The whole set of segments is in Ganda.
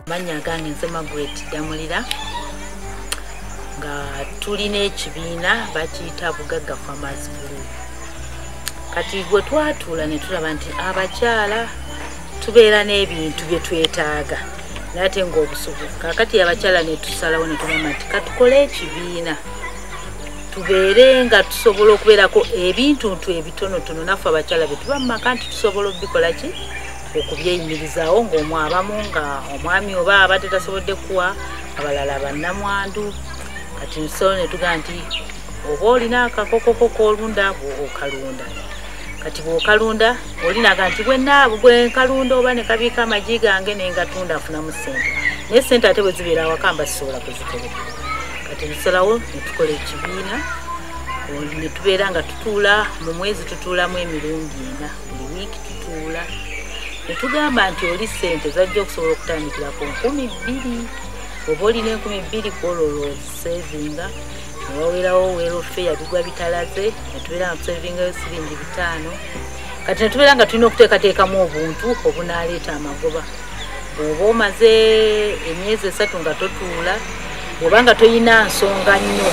mannya gange nze magret damulira nga tulina ekibiina bakiyita bugagga farmers group kati gwe twatuula ne tulaba nti abakyala tubeera n'ebintu bye twetaaga naye ate ng'obusubuzi kakati abakyala ne tusalawo ne tugamba nti katukole ekibiina tubeere nga tusobola okubeerako ebintuntu ebitonotono naffe abakyala bye tuba mu maka nti tusobola okubikola ki okubyeyimirizaawo ng'omu abamu nga omwami oba abadde tasobodde kuwa abalala bannamwandu kati nsobola ne tugaa nti oba olina akakokoko k'olunda okalunda kati bwokalunda olinaga nti bwenaabu bwenkalunda oba nekabiika amagi gange nengatunda afunamu sente naye sente ate bwezibeera awaka mba sisobola kuzitereka kati nsalawo netukola ekibiina netubeera nga tutuula mu mwezi tutuulamu emirundi ena buli wiiki tutuula netugamba nti oli sente zajja okusobola okutandikira ku nkumi bbiri oba olina enkumi bbiri kwololo sevinga newawerawo welofeya bigwa bitalaze netubeera nga tusevingayo siringi bitaano kati netubeera nga tulina okuteekateekamu obuntu obunaaleeta amagoba bw'oba omaze emyezi esatu nga totuula oba nga tolina nsonga nnyo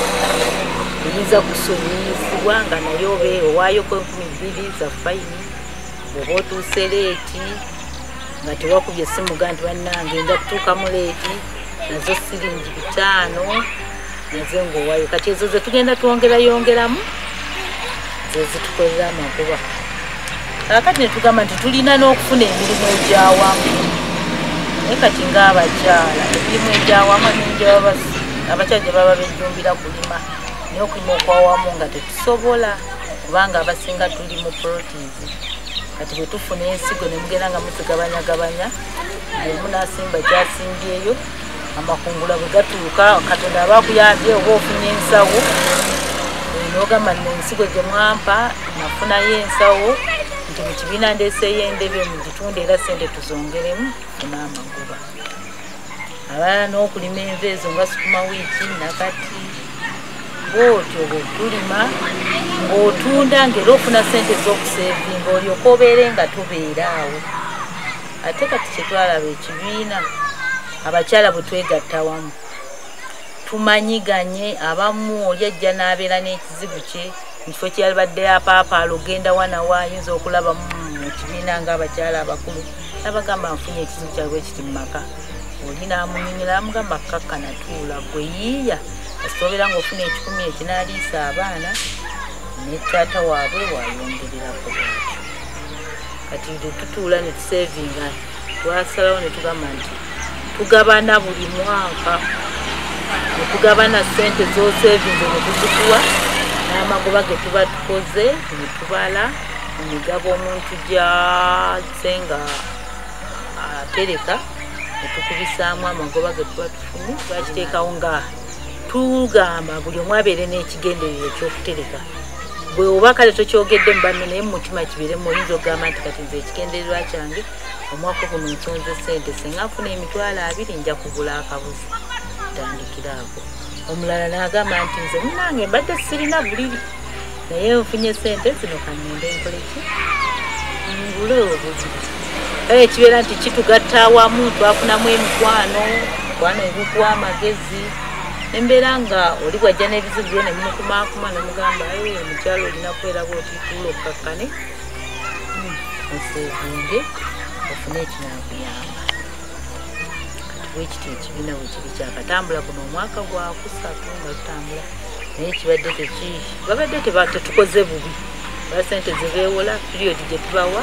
eyinza kusonyiyizibwa nga naye obe owaayoko enkumi bbiri za fayini oba otuuse leeti nga tewakubye simuga nti bannange nja kutuukamu leeti nazo siringi bitaano nze ngaowayo kati ezo ze tugenda twongerayongeramu zezitukolera amakuba kakati netugamba nti tulina n'okufuna emirimu egyawamu naye kati ngaabakyala emirimu egyawamu abakyala gye baba bejjumbira kulima naye okulima okwawamu nga tetusobola kubanga abasinga tuli mu proteins kati bwetufuna ensigo nemugenda nga muzigabanyagabanya bwemunasimba gyasimbyeyo amakungula bwe gatuuka katonda aba akuyambye oba ofunye ensawo eh, nogamba nno ensigo gye mwampa nafunayo ensawo nti mu kibiina ndeeseeyo endebe mu gitunde era sente tuzongeremu funa amagoba aba n'okulima enva ezo nga sukuma wiiki nakati bwotyo bwetulima ng'otunda ng'era ofuna sente z'okuseevinga olyoka obeere nga tubeera awo ate kati kyetwalaba ekibiina abakyala bwe twegatta wamu tumanyiganye abamu oli ajja n'abeera n'ekizibu kye mu kifo kyeyalibadde apaapaala ogenda wanawo ayinza okulaba mu kibiina ngaabakyala abakulu nabagamba nfunye ekizibu kyaliwo ekiti mu maka oli n'amunyumira amugamba kukakkana tuula gwe yiiya asoobera ngaofuna ekikumi ekinaaliisa abaana ne taata waabwe wayongererako kati nze tutuula ne tusevinga twasalawo ne tugamba nti tugabana buli mwaka ne tugabana ssente z'osevinze ne tuzikuwa n'amagoba ge tuba tukoze ne tubala mu migabo omuntu gyazze nga atereka ne tukubisaamu amagoba ge tuba tufunye twakiteekawo nga tugamba buli omu abeere n'ekigenderero ekyokutereka bwe oba kale tokyogedde mu banno naye mumutima kibeeremu oyinza okugamba nti kati nze ekigendererwa kyange omwaka guno nsonze sente singa nfuna emitwalo abiri nja kugula akabuzi tandikiraako omulala naagamba nti nze munange mbadde sirina buliri naye ofunye sente zino kangende nkoleki ngule obuzi kale kibeera nti kitugatta awamu twafunamu emikwano mikwano ebikuwa amagezi embeera nga oli bwajja n'ebizibu byo ne mumukumaakuma ne mugamba aye omukyalo olina kweraba otituula okukakkane hmm, oseegunge ofune ekinakuyamba kati bwekiti ekibiina bwe kiri kyakatambula kuno omwaka gwakusatu nga tutambula naye kibadde teki babadde tetukoze bubi ba sente zebewola period gyetubawa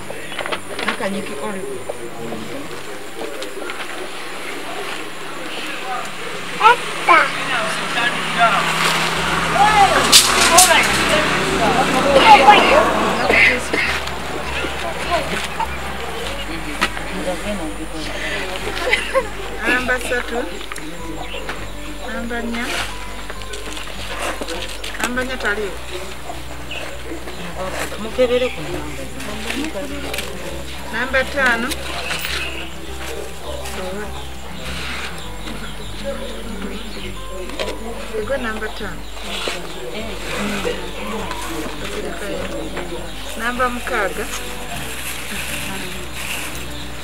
nakanyiki olive namba satu namba nnya namba nnya taliwo mukebere ku namba taano ego namba taano namba mukaaga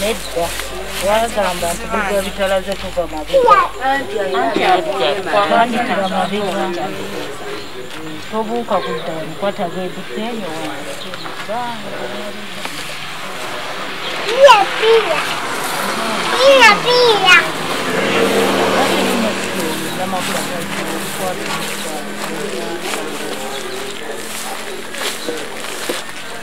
nedda wagamba nti bigwa bitalaze kuva mabigawandikira mabiga tobuuka kudda omukwata gweduseeyo Pia, pia. Pia, pia.